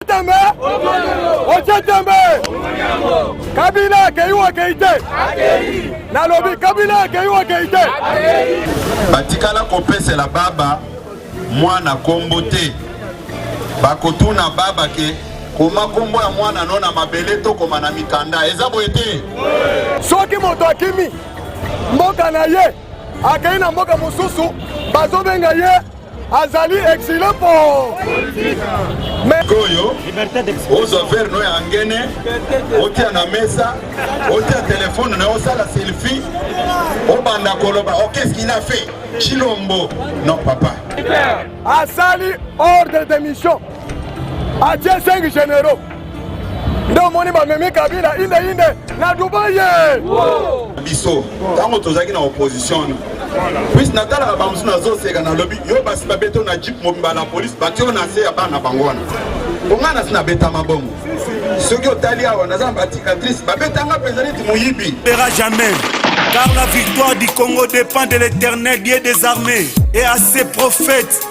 Tembe otie tembe kabila akei o akei te nalobi kabila akei o akei te batikala kopesela baba mwana kombo te bakotuna baba ke koma kombo ya mwana no na mabele tokoma na mikanda eza boye te soki moto akimi mboka na ye akei na mboka mosusu bazobenga ye azali exile po koyo ozwa vere no ya ngene otia na mesa otia telefone na osala selfie obanda koloba oh, qu'est-ce qu'il a fait chilombo non papa asali ordre de mission atie 5 généraux nde omoni bamemi kabila indeinde na dubai ye biso ntango tozalaki na opposition puise natalaka bamosusu nazoseka nalobi yo basi babeto na jip mobimba na polise batio na se ya bana bango wana bonga nasi nabetama bongo soki otali awa naza na baticatrice babetanga mpenza neti moyibi era jamais car la victoire du congo dépend de l'éternel dieu des armées et à ses prophètes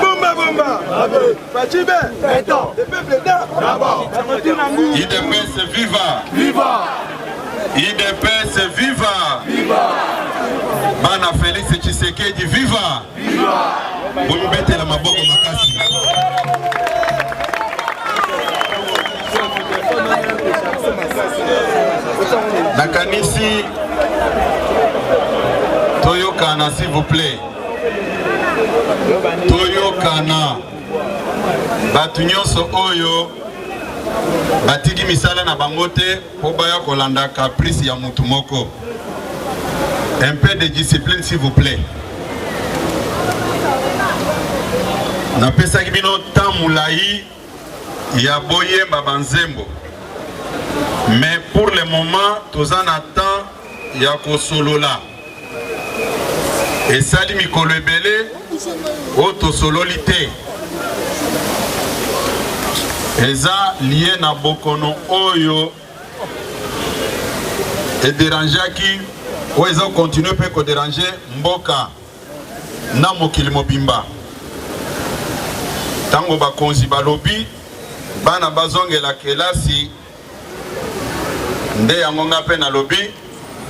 Bomba bomba Fachibe Beton Le peuple da D'abord Idepese viva Viva Idepese viva Viva Bana Felix Tshisekedi viva Viva Bomibetela maboko makasi nakanisi toyokana s'il vous plaît toyokana bato nyonso oyo batiki misala na bango te mpo baya kolanda caprice ya motu moko un peu de discipline s'il vous plaît napesaki bino temps molai ya boyemba ba nzembo mais pour le moment toza na temps ya kosolola esali mikolo ebele oyo tosololi te eza lie na bokono oyo ederangeaki oyo eza kokontinue mpe koderange mboka na mokili mobimba. Ntango bakonzi balobi bana bazongela kelasi, nde yango nga mpe nalobi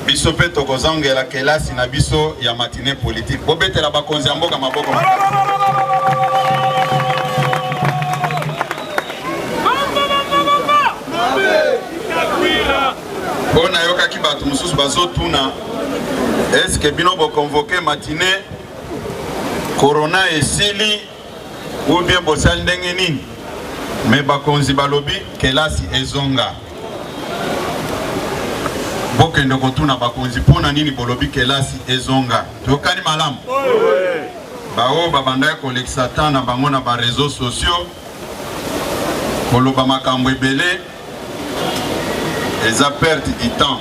biso mpe tokozongela kelasi na biso ya matine politike. Bobetela bakonzi ya mboka maboko Mpo nayokaki bato mosusu bazotuna eske bino bokonvoke matine korona esili ubie bosali ndenge nini? Me bakonzi balobi kelasi ezonga. Bokende kotuna bakonzi mpo na nini bolobi kelasi ezonga. Toyokani malamu? Baoyo babandaki kolekisa temps na bango na bareseau sociaux koloba makambo ebele eza perte du temps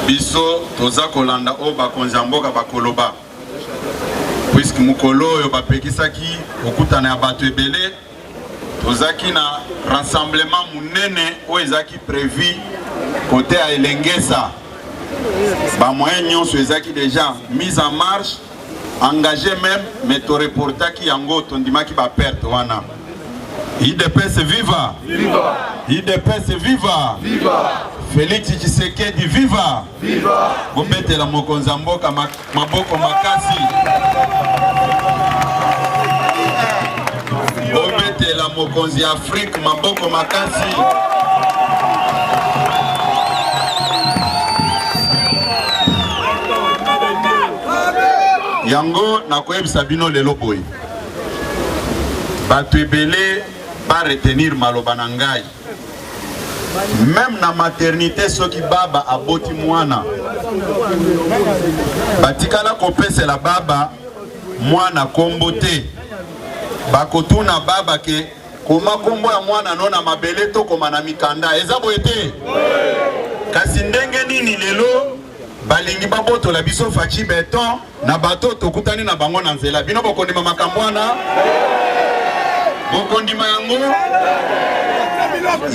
biso toza kolanda oyo bakonzi ya mboka bakoloba puiske mokolo oyo bapekisaki kokutana ya bato ebele tozalaki na rassemblement monene oyo ezalaki prévu kote ya elengesa bamoyen nyonso ezalaki déjà mise en marche engage meme mais to reportaki yango tondimaki ba perte wana idps viva viva idps viva viva Felix Tshisekedi viva viva bombetela mokonzi ya mboka maboko makasi bombetela mokonzi ya Afrique maboko makasi yango nakoyebisa bino lelo boye bato ebele ba retenir maloba na ngai meme na maternité soki baba aboti mwana batikala kopesela baba mwana kombo te bakotuna baba ke Koma kombo ya mwana no na mabele to koma na mikanda. Eza boye te? Kasi ndenge nini lelo balingi babotola biso Fatshi Beton na bato tokutani na bango na nzela? Bino bokondima makambo wana? Bokondima yango?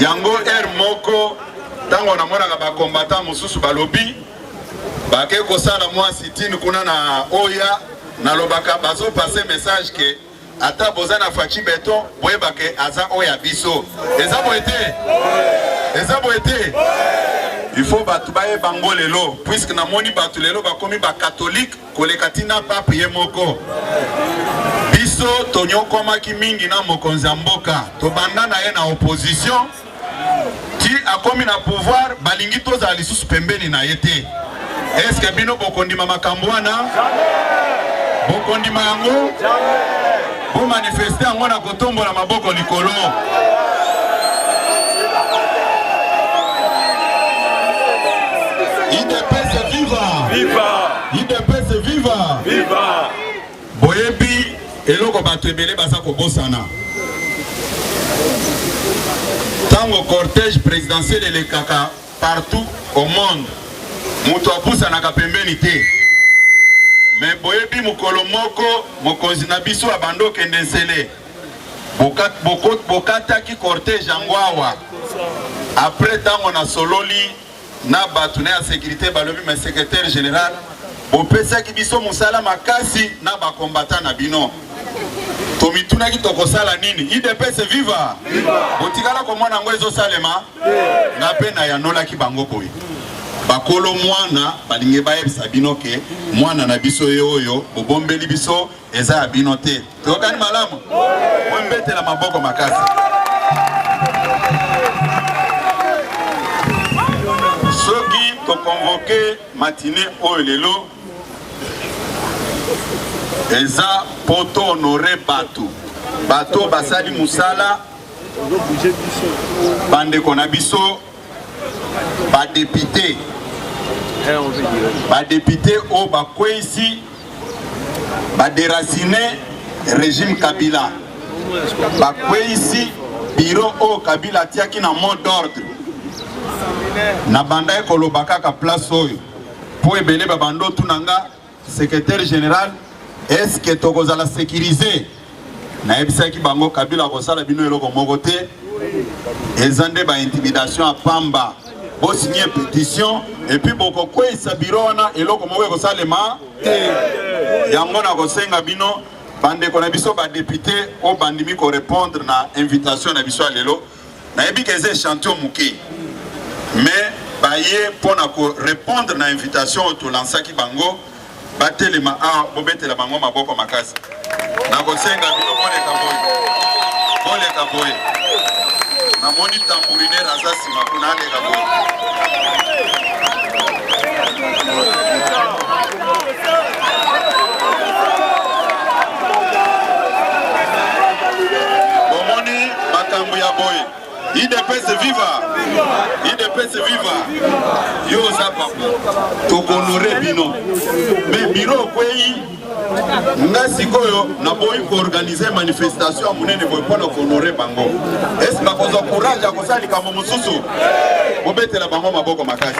Yango heure moko ntango namonaka bakombata mosusu balobi bake kosala mwa sitini kuna na oya nalobaka bazopase message ke Ata boza na Fatshi beton boyeba ke aza oyo ya biso. Eza boye te? Eza boye te? Il faut bato bayeba ngo lelo puisque namoni bato lelo bakomi ba catholique koleka tina pape ye moko. Biso tonyokwamaki mingi na mokonzi ya mboka, tobanda na ye na opposition. ti akomi na pouvoir balingi tozala lisusu pembeni na ye te eske bino bokondima makambo wana bokondima yango bomanifeste yango na kotombola maboko likolo Boyebi eloko bato ebele baza kobosana ntango cortège présidentiel elekaka partout au monde moto apusanaka pembeni te me boyebi mokolo moko mokonzi na biso abandi okende nsele bokataki cortège yango awa apres ntango nasololi na batu na ya securite balobi mais secretaire general bopesaki biso mosala makasi na ba combattant na bino tomitunaki tokosala nini idps viva botikala komona yango ezosalema nga mpe nayanolaki bango boye bakolo mwana balingi bayebisa bino ke mwana na biso ye oyo bobombeli biso Eza ya bino te. Tokani malamu. Mwe mbetela maboko makasi. Soki to convoquer matinée oyo lelo eza po to honore bato bato basali mosala bandeko na biso badepute badepute oyo bakweisi baderasine regime kabila bakweisi biro oyo kabila atiaki na mot d'ordre nabandaki koloba kaka place oyo mpo ebele babanda otuna nga Secretaire general, est-ce que tokozala sécurisé? Nayebisaki bango Kabila akosala bino eloko moko te, eza nde ba intimidation ya pamba. Bosinye petition epuis bokokweisa biro wana, eloko moko ekosalema te. Yango nakosenga bino bandeko na biso badepute oyo bandimi korepondre na invitation na biso ya lelo Nayebi que eza echantillon muke mais baye mpo na ko repondre na invitation oyo tolansaki bango batelema awa bobetela bango maboko makasi nakosenga bino boleka boye boleka boye namoni tambouriner aza nsima kuna aleka boye makambo ya boye idps viva idps viva yo oza papa tokonore bino me biro okwei nga sikoyo naboyi koorganize manifestation ya monene boye mpo na kohonore bango esi bakozwa courage ya kosala likambo mosusu bobetela bango maboko makasi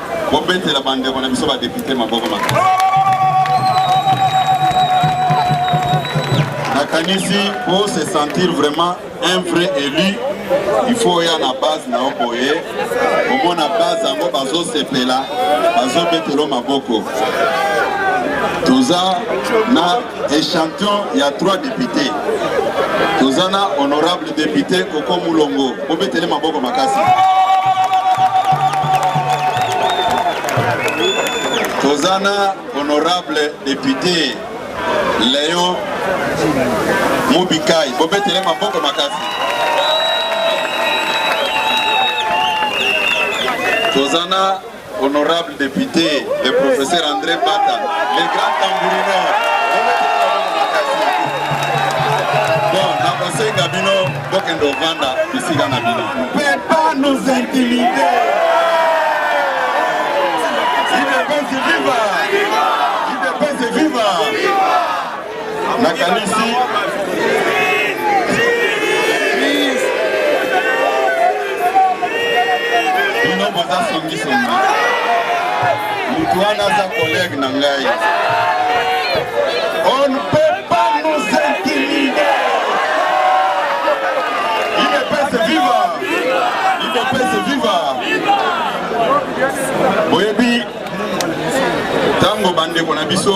Bobetela bandeko na biso badepute maboko makasi. Nakanisi po se sentir vraiment un vrai élu il faut oya na base na yo boye omona base yango bazosepela bazobetelo maboko toza na Echantillon ya trois depute toza na honorable depute Koko Mulongo, bobetele maboko makasi. Toza na honorable depute Leon Mubikai, bobetele maboko makasi. Toza na Honorable depute le professeur Andre Bata, le grand tambourineur. Bon, nakosenga bino bokende ovanda bisika na bino. Peut pas nous intimider. Il est viva. nakanisi bino boza songisongi motu wana aza kolege na ngai on peut pas nous intimider idps viva idps viva boyebi ntango bandeko na biso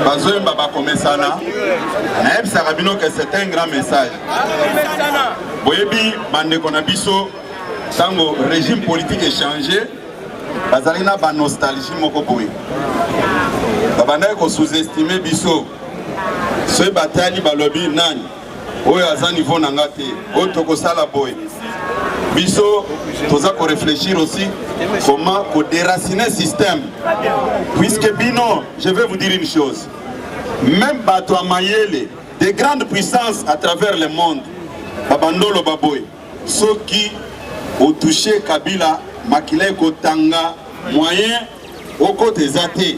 bazoyemba bakomesana nayebisaka bino ke c'est un grand message boyebi bandeko na biso ntango régime politique echange bazalaki na banostalgie moko boye babandaki kosous-estime biso soki batali balobi nani oyo aza niveau na nga te oyo tokosala boye biso toza koreflechir aussi comment koderaciner système puisque bino je vais vous dire une chose même bato ya mayele des grandes puissances à travers le monde babandolo baboye soki otouche kabila makila ekotanga moyen okota eza te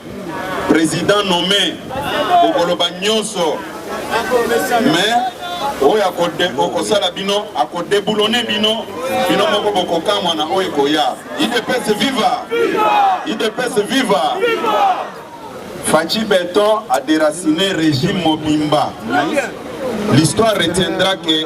President nomme okoloba nyonso mais oyo okosala bino akodeboulone bino bino moko bokokamwa na oyo ekoya idps viva idps viva faci beton aderacine régime mobimba l'histoire retiendra que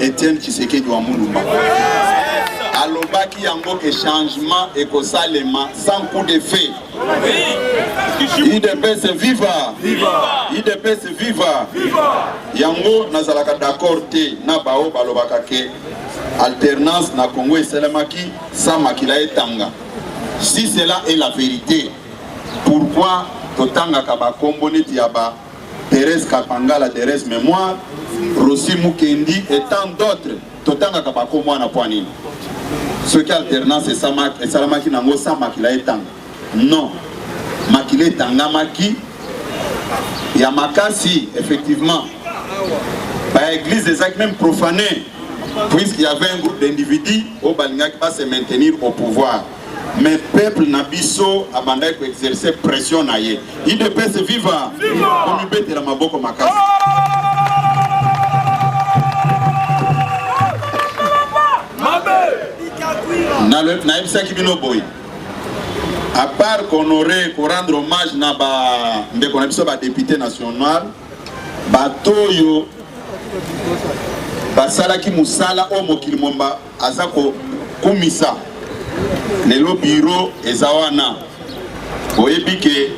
Etienne Tshisekedi wa Mulumba alobaki yango ke changement ekosalema sans coup de feu. Udps viva! Udps viva! Yango nazalaka d'accord te na bao balobaka ke alternance na Congo esalemaki sans makila etanga. Si cela est la vérité, pourquoi totangaka bakombo neti ya ba Therèse Kapangala, Therèse Memoire, Rossy Mukendi et tant d'autres totangaka bako mwana mpo nini soki alternance esalamaki nango sa makila etanga non makila etangamaki ya makasi effectivement baeglise ezalaki meme profane puisqu'il y avait un groupe d'individus oyo balingaki base maintenir au pouvoir mais peuple na biso abandaki ko exercer pression na ye idps viva komibetela maboko makasi nayebisaki bino boye à part kohonorer korendre hommage na bandeko na biso badepute national bato oyo basalaki mosala oyo mokili momba Aza ko kumisa lelo bureau eza wana boyebi ke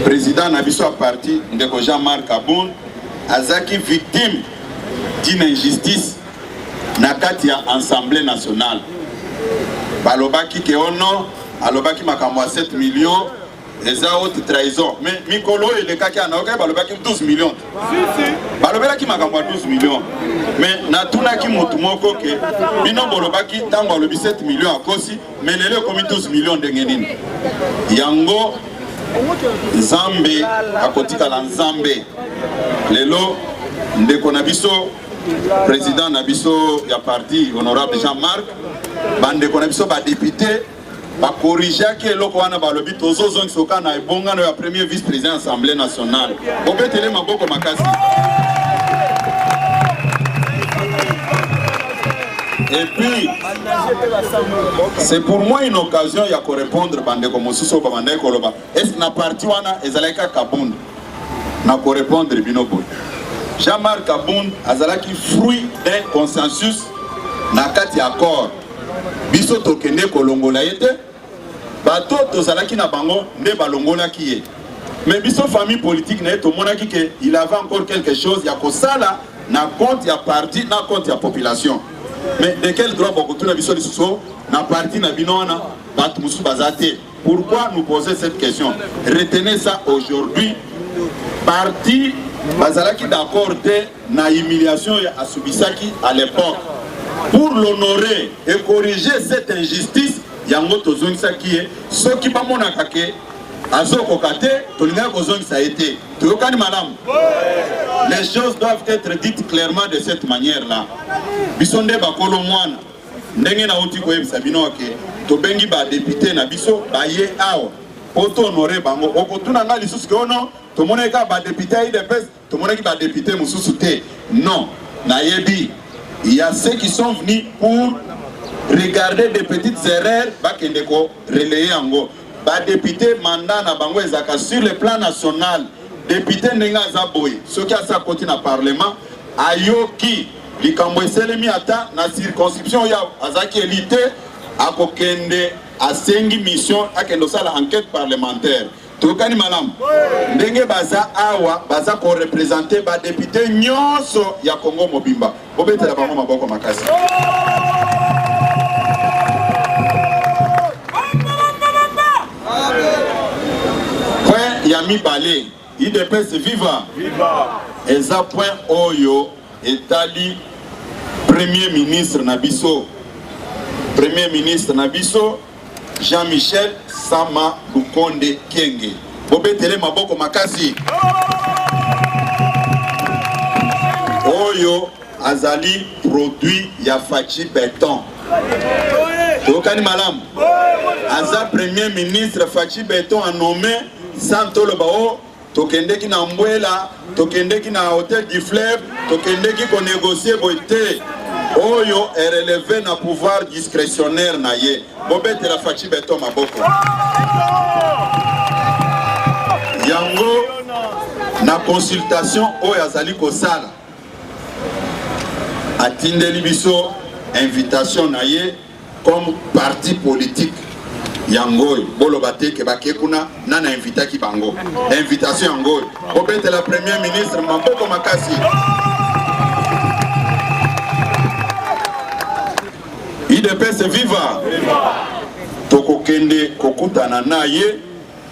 president na biso ya parti ndeko Jean Marc Abon azaki victime d'une injustice na kati ya Assemblée nationale balobaki ke ono oh alobaki makambo ya 7 millions eza haute trahison mais mikolo oyo elekaki ana okai balobaki 12 million balobelaki makambo ya 12 million mais natunaki motu moko ke bino bolobaki ntango alobi 7 million akosi mais lelo ekomi 12 million ndenge nini yango nzambe akotikala nzambe lelo ndeko na biso président na biso ya parti honorable jean marc bandeko na biso badepute ba corrigeaki eloko wana balobi tozozongisa oka na ebongano ya premier vice président ya assemblée nationale obetele maboko makasi Et puis, c'est pour moi une occasion ya korepondre bandeko mosusu oyo babandaki koloba est na parti wana ezalaki kaka bund na korepondre bino boye jean-marc abund azalaki fruit d'un consensus na kati ya accord biso tokende kolongola ye te bato tozalaki na bango nde balongolaki ye mais biso famille politique na ye tomonaki ke il avait encore quelque chose ya kosala na compte ya parti na compte ya population mais de quel droit bakotuna biso lisusu na parti na bino wana bato mosusu baza te Pourquoi nous poser cette question? Retenez ça aujourd'hui. Parti bazalaki d'accord te na humiliation ya asubisaki à l'époque. Pour l'honorer et corriger cette injustice, yango tozongisaki ye soki bamonaka ke azokoka te tolingaki kozongisa ye te toyokani malamu les choses doivent être dites clairement de cette manière là biso nde bakolo mwana Ndenge nauti koyebisa bino ke tobengi ba depute na biso baye awa po to honore bango. Okotuna ngai lisusu ke ono oh tomonaki kaka ba depute ya udps, tomonaki ba depute mosusu te. Non, nayebi il y a ceux qui sont venus pour regarder des petites erreurs bakende ko relayer yango. Ba depute mandat na bango ezalaka sur le plan national. Depute ndenge aza boye, soki asi akoti na parlement ayoki likambo eselemi ata na circonscription ya azalaki eli te akokende asengi mission akende osala enquête parlementaire tokani malamu ndenge baza awa baza korepresente badepute nyonso ya kongo mobimba bobetela bango maboko makasi point ya mibale Udps viva! Viva! Eza point oyo etali premier ministre na biso premier ministre na biso Jean-Michel Sama Lukonde Kenge. Bobetele maboko makasi. Oyo azali produit ya Fatshi Beton. Tokani malam. Aza premier ministre Fatshi Beton a nommé sans toloba o oh, tokendeki na mbwela tokendeki na hotel du fleuve tokendeki konegocie boye te oyo ereleve na pouvoir discrétionnaire na ye bobetela faci beton maboko yango na consultation oyo azali kosala atindeli biso invitation na ye comme parti politique ya ngoy boloba te ke bake kuna nani ainvitaki bango invitation ya ngoy bobetela premier ministre maboko makasi idps viva tokokende kokutana na ye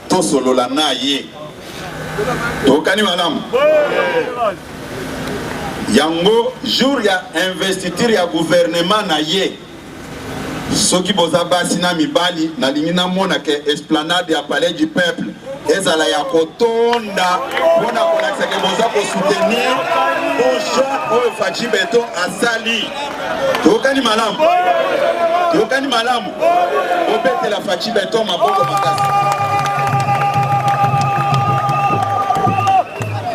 tosolola na ye tokani malamu yango jour ya investiture ya guvernema na ye soki boza basi na mibali nalingi namona ke esplanade ya palais du peuple ezala ya kotonda mpo na kolakisa ke boza kosoutenir bojeune oyo faci beton asali tokani malamu tokani malamu Bobetela Fatshi Beton maboko makasi.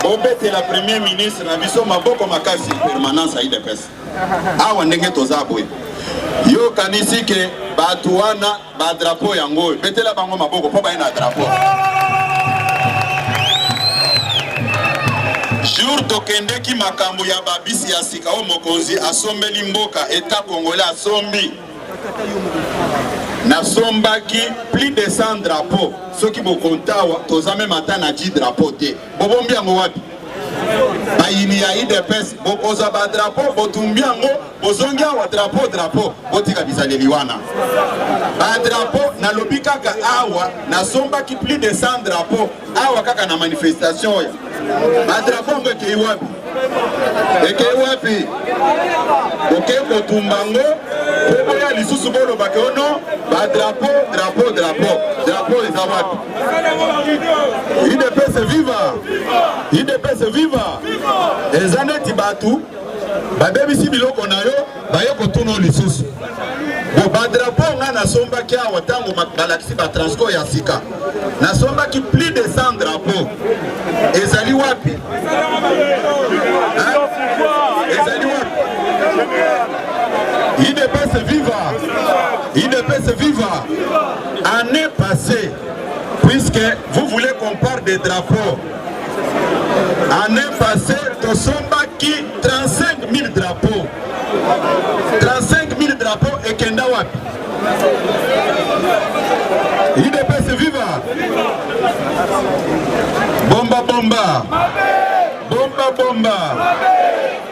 Bobetela Premier ministre na biso maboko makasi permanence ya UDPS. Awa ndenge toza boye. Yo kanisi ke bato wana ba drapeau yango oyo betela bango maboko mpo baye na drapeau. jour tokendeki makambo ya babisi ya sika oyo mokonzi asombeli mboka eta kongole asombi nasombaki plus de 100 drapeau soki bokontawa toza meme ata na 10 drapeau te bobombi yango wapi bayini ya idps bokozwa badrapo botumbi yango bozongi awa drapo drapo botika bizaleli wana badrapo nalobi kaka awa nasombaki plus de 100 drapo awa kaka na manifestation oyo badrapo yango ekei wapi ekei wapi okei kotumba ngo po boya lisusu bolobaka ono badrapo drapo drapo drapo eza wapi idps viva idps viva eza neti bato babebisi biloko na yo baye kotuna yo lisusu bo badrapo ngai nasombaki awa ntango balakisi batransport ya sika nasombaki plus de 100 drapo ezali wapi ezali wapi idps viva idps viva année passée puisque vous voulez qu'on parle des drapeaux Année passée, tosombaki 35 000 drapeaux. 35 000 drapeaux et kenda wapi? UDPS viva! Bomba bomba! Bomba bomba!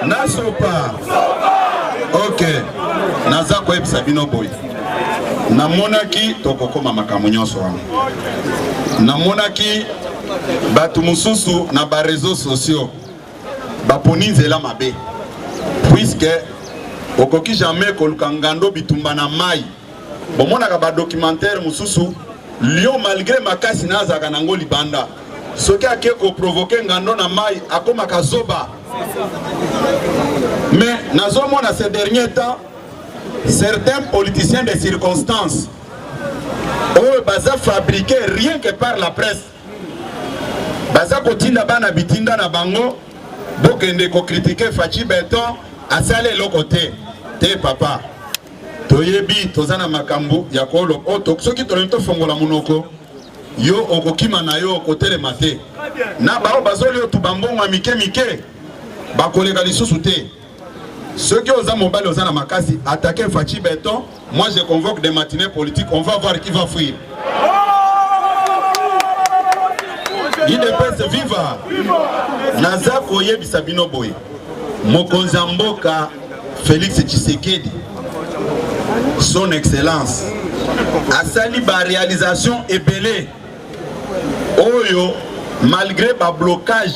Nasopa! Ok, naza koyebisa bino boye. Namonaki tokokoma makambo nyonso wana. Namonaki bato mosusu na ba réseaux sociaux baponi nzela mabe puiske okoki jamais koluka ngando bitumba na mai bomonaka badocumentaire mosusu lio malgré makasi na azalaka nango libanda soki ake koprovoke ngando na mai akomaka zoba mais nazomona ce dernier temps certains politiciens de circonstance oyo baza fabrique rien que par la presse baza kotinda bana bitinda na bango bokende kokritike faci beton asali eloko te te papa toyebi toza na makambo ya kolo oyo soki tolingi tofongola monoko yo okokima na yo okotelema te na baoyo bazoli otuba mbongo ya mike mike bakoleka lisusu te Soki oza mobali oza na makasi attaquer Fatshi Beton, moi je convoque des matinées politiques, on va voir qui va fuir. idps viva naza koyebisa bino boye mokonzi ya mboka félix tshisekedi son excellence asali barealisation ebele oyo malgré bablocage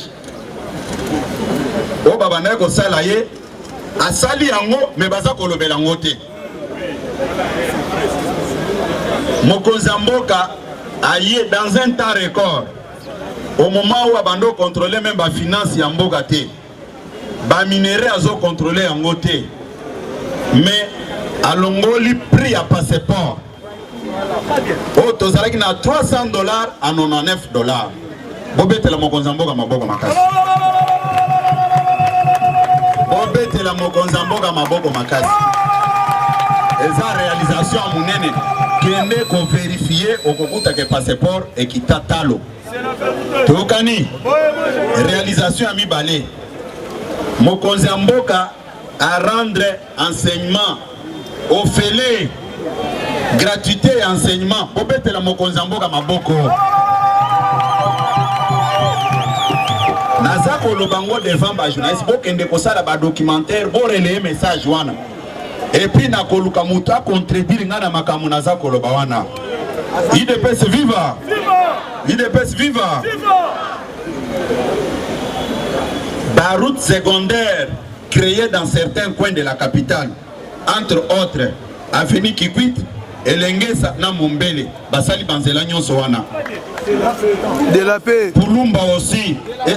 oyo babandaki kosala ye asali yango me baza kolobela yango te mokonzi ya mboka aye dans un temps record au moment oyo abandi okontrole meme bafinance ya mboka te baminerai azokontrole yango te mais alongoli prix ya passeport oyo tozalaki na 300 dollars a 99 dollars bobetela mokonzi ya mboka maboko makasi bobetela mokonzi ya mboka maboko makasi eza realisation ya monene kende koverifie okokutake passeport ekita talo toyokani realisation ya mibale mokonzi ya mboka arendre enseignement ofele gratuité ya enseignement bobetela mokonzi ya mboka maboko naza koloba ngo devant bajournaliste bokende kosala badocumentaire boreleye message wana epuis nakoluka moto acontredire ngai na makambo naza koloba wana idps viva idps viva baroute secondaire creer dans certains coins de la capitale, entre autres avenue Kikwit, Elengesa na Mombele, basali banzela nyonso wana. De la paix. Kulumba aussi. Eh,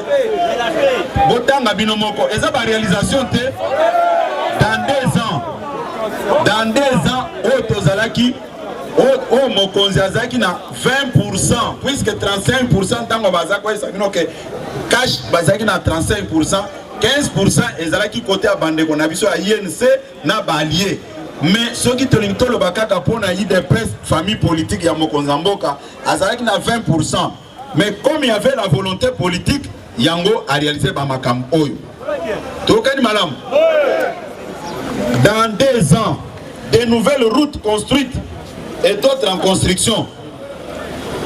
botanga bino moko, eza ba réalisation te. Dans deux ans, dans deux ans, oyo tozalaki oyo mokonzi azalaki na 20% puisque 35% ntango baza koyesa bino ke cash bazalaki na 35% 15% ezalaki kote ya bandeko na biso ya INC na balie mais soki tolingi toloba kaka mpo na idps famille politique ya mokonzi ya mboka azalaki na 20% mais comme il y avait la volonté politique yango arealise bamakambo oyo tokani malamu dans deux ans des nouvelles routes construites et d'autres en construction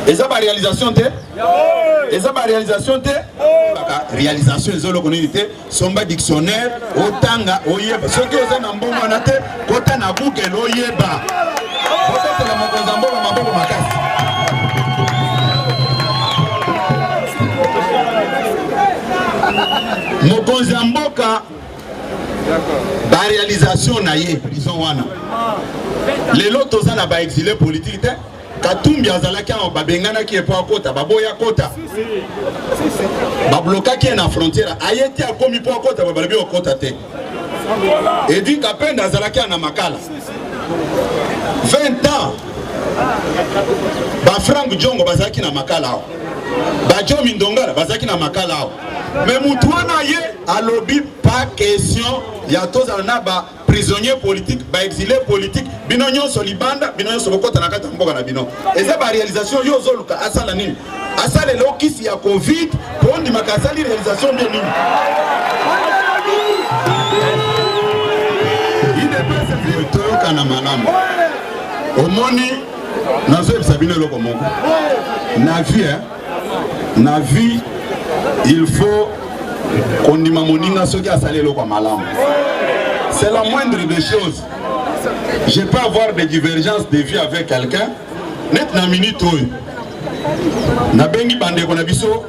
eza ba réalisation te eza ba réalisation te baka réalisation eza eloko nini te somba dictionnaire otanga oyeba soki oza na mbongo wana te kota na google oyeba otatela mokonzi ya mbongo maboko makasi mokonzi ya mboka ba realisation na ye prison wana lelo toza na baexile politike te katumbi azalaki awa babenganaki epo akota baboya akota bablokaki ye na frontière aye te akomi mpo akota babalabi okota te edi kapenda azalaki awa na makala 20 ans bafrank jongo bazalaki na makala awa bajomi ndongala bazalaki na makala awa Mais mutu wana ye alobi pas question ya tozala na ba prisonnier politique ba exilé politique bino nyonso libanda bino nyonso bokota na kati ya mboka na bino eza ba réalisation yo ozoluka asala nini asala elokisi ya covid mpo ondimaka asali réalisation nde nini toyokana malamu omoni nazoyebisa bino eloko moko na vie na vie il faut kondima moninga soki asali eloko ya malamu c'est la moindre des choses je peux avoir des divergences de vie avec quelqu'un net na minute oyo nabengi bandeko na biso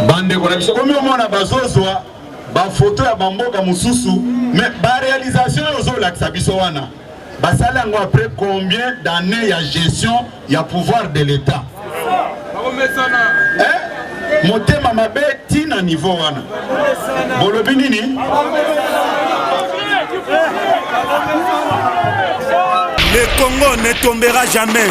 bandeko na biso komi omona bazozwa bafoto ya bamboka mosusu me barealisation oyo ozolakisa biso wana Basali yango après combien d'années ya gestion ya pouvoir de l'État? Eh? Motema mabe ti na niveau wana. Bolobi nini? Le Congo ne tombera jamais.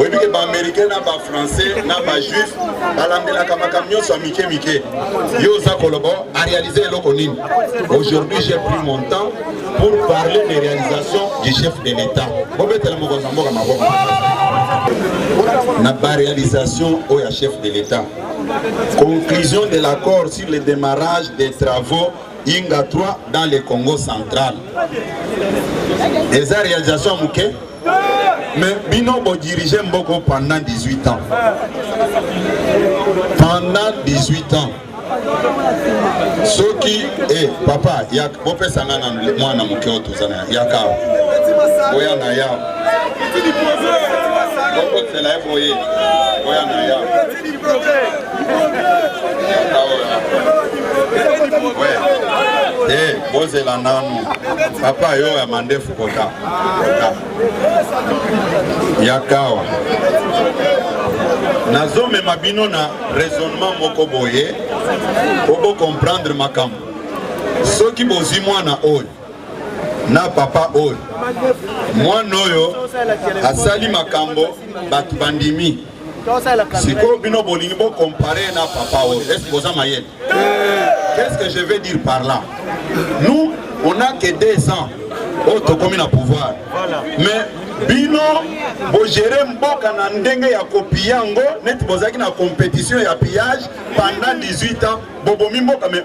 oyebi ke baamericain na bafrançais na bajuif balandelaka makambo nyonso ya mike mike yo oza koloba arealize eloko nini aujourd'hui j'ai pris mon temps pour parler des réalisations du chef de l'état bobetela mokonzi ya mboka maboko na baréalisation oyo ya chef de l'état conclusion de l'accord sur le démarrage des travaux Inga 3 dans le Congo central eza réalisation moke mais bino bodirige mboko pendant 18 ans pendant 18 ans soki eh, papa bopesa ngai na mwana moke oyo toza na yaka boya na yao bokotela ye boye boya na yao te bozela nanu papa yo ya mandefu kota ya kawa nazomema bino na raisonnement moko boye po bocomprendre makambo soki bozwi mwana oyo na papa oyo mwana oyo asali makambo bato bandimi sikoyo bino bolingi bo comparer na papa oyo est ce boza mayele qu'est ce que je vais dire par là nous on a que deux ans oyo tokomi na pouvoir mais bino bogere mboka na ndenge ya kopia yango neti bozalaki na competition ya pillage pendant 18 ans bobomi mboka mais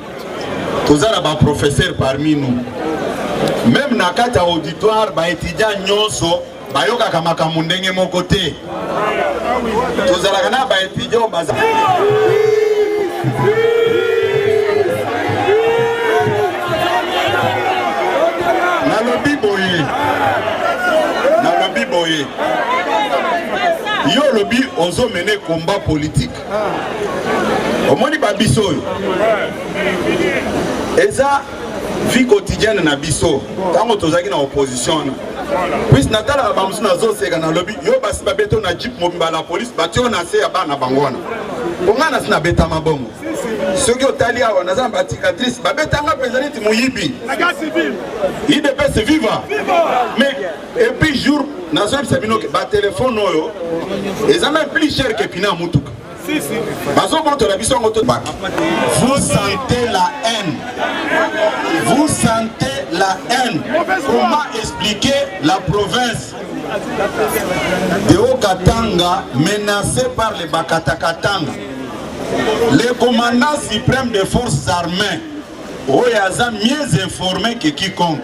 toza na ba professeur parmi nous meme na kati ya auditoire ba étudiant nyonso bayokaka makambo ndenge moko te tozalaka na ba étudiant baza nalobi boye nalobi boye yo olobi ozomene combat politique omoni ba biso oyo eza vie quotidienne na biso ntango tozalaki na opposition wana puise natalaka bamosusu nazoseka nalobi yo basi babeto na jip mobimba la polise batio na se ya bana bango wana mpo ngai nasi nabetama bongo soki otali awa naza na bacicatrice babetanga mpenza neti moyibi idps viva mais Et puis jour nazoyebisa bino ke batelefone oyo eza même plus cher ke pina ya motuka bazobotola biso yango tobaka vous sentez la haine vous sentez la haine comment expliquer la province de Haut-Katanga menacée par les Bakatakatanga le commandant suprême des forces armées oyo aza mieux informé que quiconque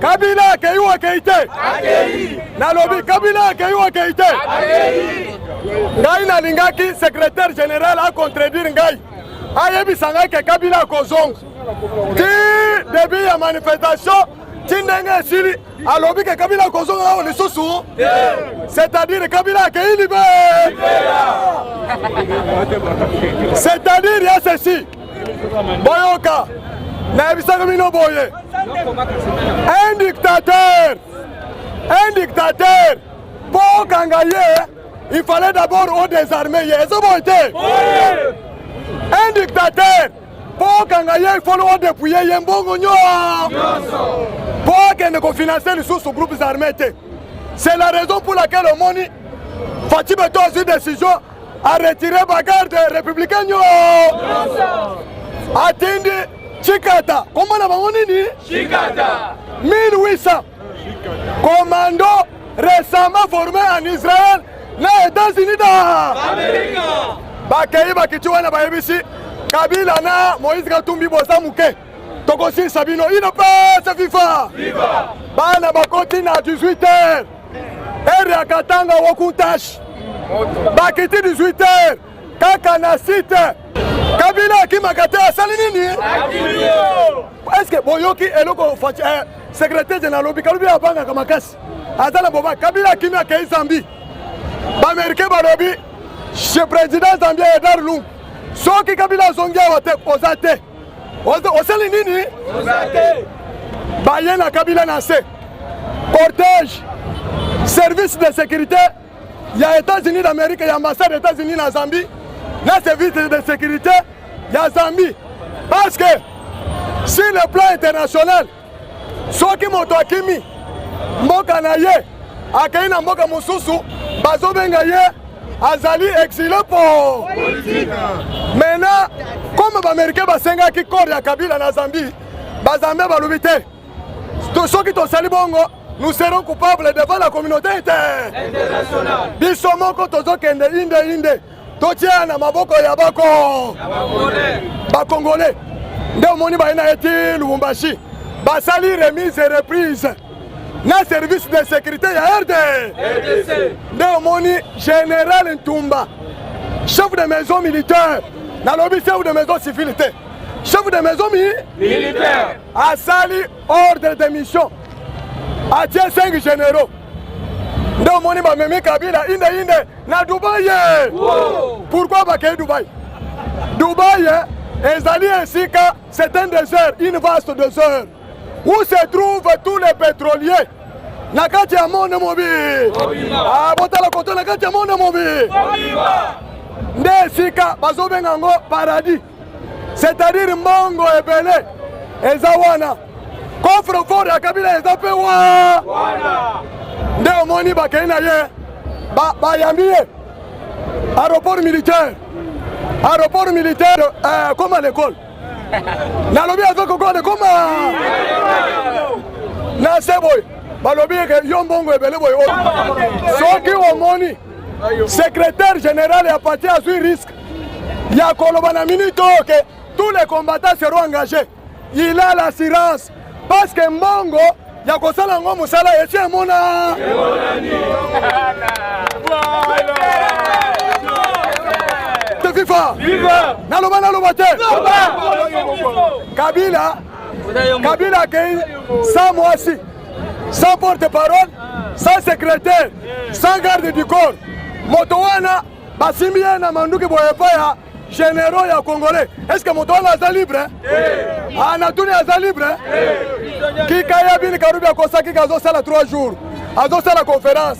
Kabila akei ou akei te? Akei. Nalobi Kabila akei ou akei te? Akei. Ngai nalingaki secrétaire général a contredire ngai ayebisa ngai ke Kabila akozonga ti début ya manifestation ti ndenge esili alobi ke Kabila akozonga awa lisusu c'est-à-dire Kabila akei libe c'est-à-dire ya ceci boyoka nayebisaki bino boye un dictateur un dictateur mpo okanga ye il fallait d'abord o désarme ye ezo boye te un dictateur mpo okanga ye ifoni odepouye ye mbongo nyonso mpo akende kofinanse lisusu groupes armé te c'est la raison pour laquelle omoni faci beto azwi décision a retire bagarde républicain nyo atindi chikata kombo na bango nini chikata 1800 commando récemment formé en israël na états-unis da bakei bakiti wana bayebisi kabila na moïse katumbi boza moke tokosilisa bino ino pesa fifa bana bakoti na 18 heures Heure ya Katanga Wokuntash bakiti 18 heures kaka na site Kabila akimaka te asali nini? Eske boyoki eloko faci eh, secrétaire général alobi kalobi abangaka makasi aza na boba Kabila akimi akei Zambie baamerikain balobi chez président Zambie Edar Lungu soki Kabila azongi awa te oza te osali nini baye na kabila na se cortège service de sécurité ya états-unis d'amérique ya ambassade états-unis na zambie na service de sécurité ya zambie parce que sur le plan international soki moto akimi mboka na ye akei na mboka mosusu bazobenga ye azali exile po mena comme baamerikain basengaki kore ya kabila na zambie bazambe balobi te soki tosali bongo nous serons coupables devant la communauté internationale biso moko tozokende inde inde totia na maboko ya bako bakongole nde omoni baye na eti lubumbashi basali remise et reprise na service de sécurité ya rd nde omoni général ntumba chef de maison militaire nalobi chef de maison civile te chef de maison mi militaire asali ordre de mission atie 5 généraux nde omoni bamemi kabila inde inde na dubai ye pourquoi bakei dubai dubai ezali esika c'est un désert une vaste désert où se trouvent tous les pétroliers na kati ya monde mobile ah, botala koto na kati ya monde mobile nde esika bazobenga yango paradis c'est-à-dire mbongo ebele eza wana coffre fort ya kabila eza mpe wana nde omoni bakei na ye bayambi ye aéroport militaire aéroport militaire euh, comme à l'école nalobi aza kokole koma na se boye balobi eke yo mbongo ebele boye oyo soki omoni secrétaire général ya parti azwi risque ya koloba na minute oyo ke tous les combattants seront engagés il a l'assurance parce que mbongo ya kosala yango mosala esi emona viva naloba naloba te kabila kabila akei sa mwasi sans porte parole sans secrétaire sans garde du corps moto wana basimbi ye na manduki boye epai ya généraux ya congolais est ce que moto wana aza libre anatuni ah, aza libre kika ya bini karubi akosaki ke azosala 3 jours azosala conférence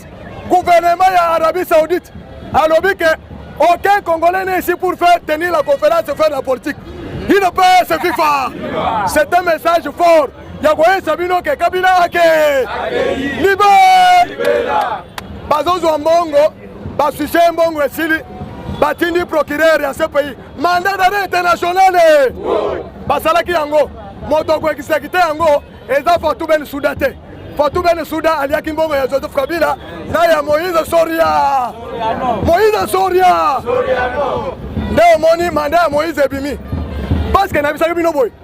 gouvernement ya arabie saoudite alobi ke aucun congolais ne ici pour faire tenir la conférence faire la politique ino mpe se fifa c'est un message fort ya koyesa bino ke kabila ake libe bazozwa mbongo basuse ye mbongo esili batindi procureur ya cpi mandat d'arrêt internationale basalaki yango moto akoekisakite yango eza fatu ben suda te fatu ben suda aliaki mbongo ya joseph kabila na ya moïse soria moïse soria nde omoni manda ya moïse ebimi paske nabisaki bino boye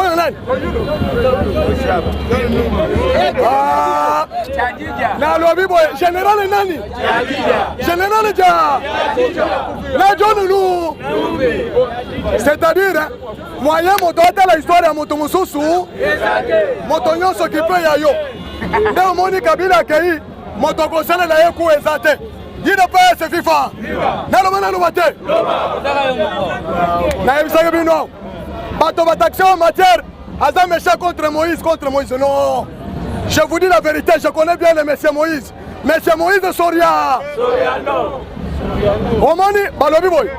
oyo nani ah, nalobi boye generale nani generale ja na jonulu c'est-à-dire moyen moto atala histoire ya moto mosusu moto nyonso kipe ya yo nde omoni kabila akei moto akosalela ye ku eza te udps fifa naloba naloba te nayebisaki bino bato bataxe en matière aza méchant contre moïse contre moïse non je vous dis la vérité je connais bien le monsieur moïse monsieur moïse soria omoni balobi boye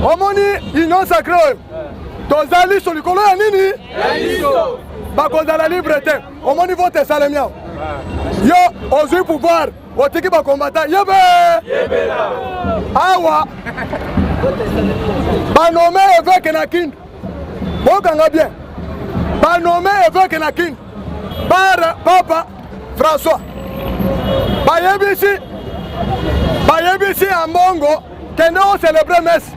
omoni union sacré oyo tozali so likolo ya nini bakozala libre te omoni vote esalemi awa yo ozwi pouvoir otiki bakombata yebe awa banome eveke na kindu bokanga bien banome eveke na kindu par papa françois bayebisi bayebisi ya mbongo kende ocelebre messe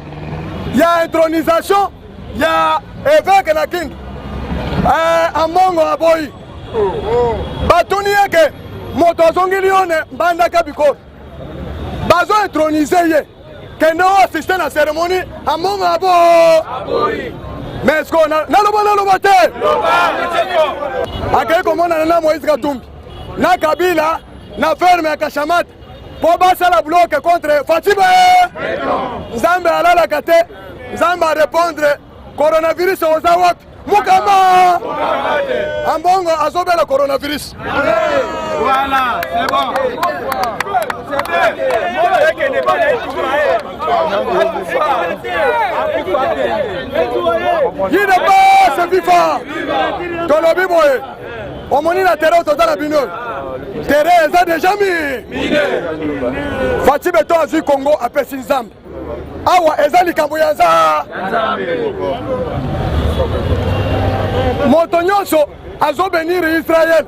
ya intronisation ya eveke na king eh, ambongo aboyi batuni ye ke moto azongeli yo ne mbandaka bikolo bazo etronise ye kende o asiste na seremoni ambongo abo mais ko naloba naloba te akei komonana na moïse katumbi na kabila na ferme ya kashamata mpo basala bloke contre fatibe nzambe alalaka te Nzambe a repondre coronavirus oza wapi? Mukama Ambongo azobela coronavirus. Voilà, c'est bon. Yine base FIFA tolobi boye omoni na tere otoza na bino tere eza deja mi faci beto azwi kongo apesi nzambe awa eza likambo ya za moto nyonso azobenire israele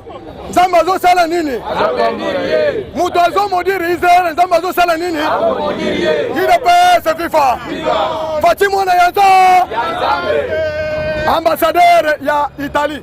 nzambe azosala nini moto azomodire israele nzambe azosala nini idps fifa fati mwana ya nza ambasadere ya italie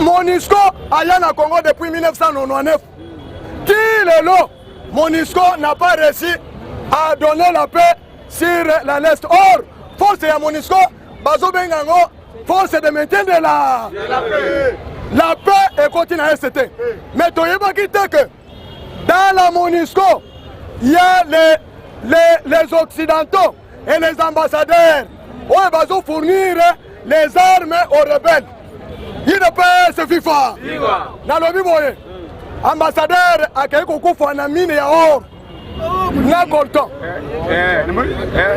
monisco aya na congo depuis 1999 ti lelo monisco n'a pas réussi à donner la paix sur la leste or force ya monisco bazobenga yango force de maintien de la la paix ekoti na este te mais toyebaki te que dans la monisco il y a les, les, les occidentaux et les ambassadeurs oyo bazo fournir les armes aux rebelles udps fifa nalobi boye ambassadeur akei kokufa na mine ya or na colton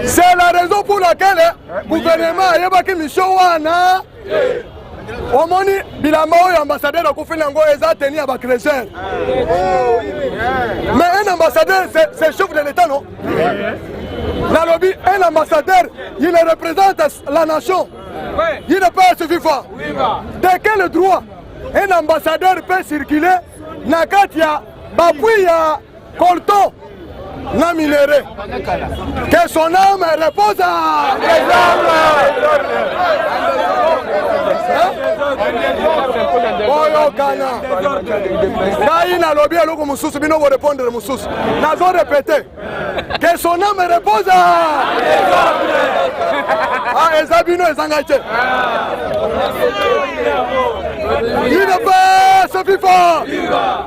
c'est la raison pour laquelle gouvernement ayebaki mission wana omoni bilamba oyo ambassadeur akufeli yango eza teni ya bacreseur mais un ambassadeur c'est chef de l'état non nalobi un ambassadeur il représente la nation il ne pas se viva de quel droit un ambassadeur peut circuler na kati ya bapui ya Colton na minere que son âme repose à boyokana ngai nalobi eloko mosusu bino borepondre mosusu nazo repete que son âme repose à ah, eza bino eza ngai te Viva! Viva!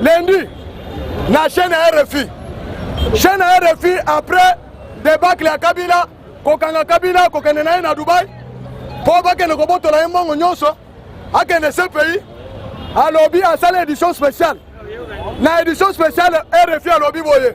lundi na chaîne ya rfi chaîne ya rfi après debacle ya kabila kokanga kabila kokende na ye na dubai mpo bakende kobotola ye mbongo nyonso akende se pays alobi asali édition spéciale na édition spéciale rfi alobi boye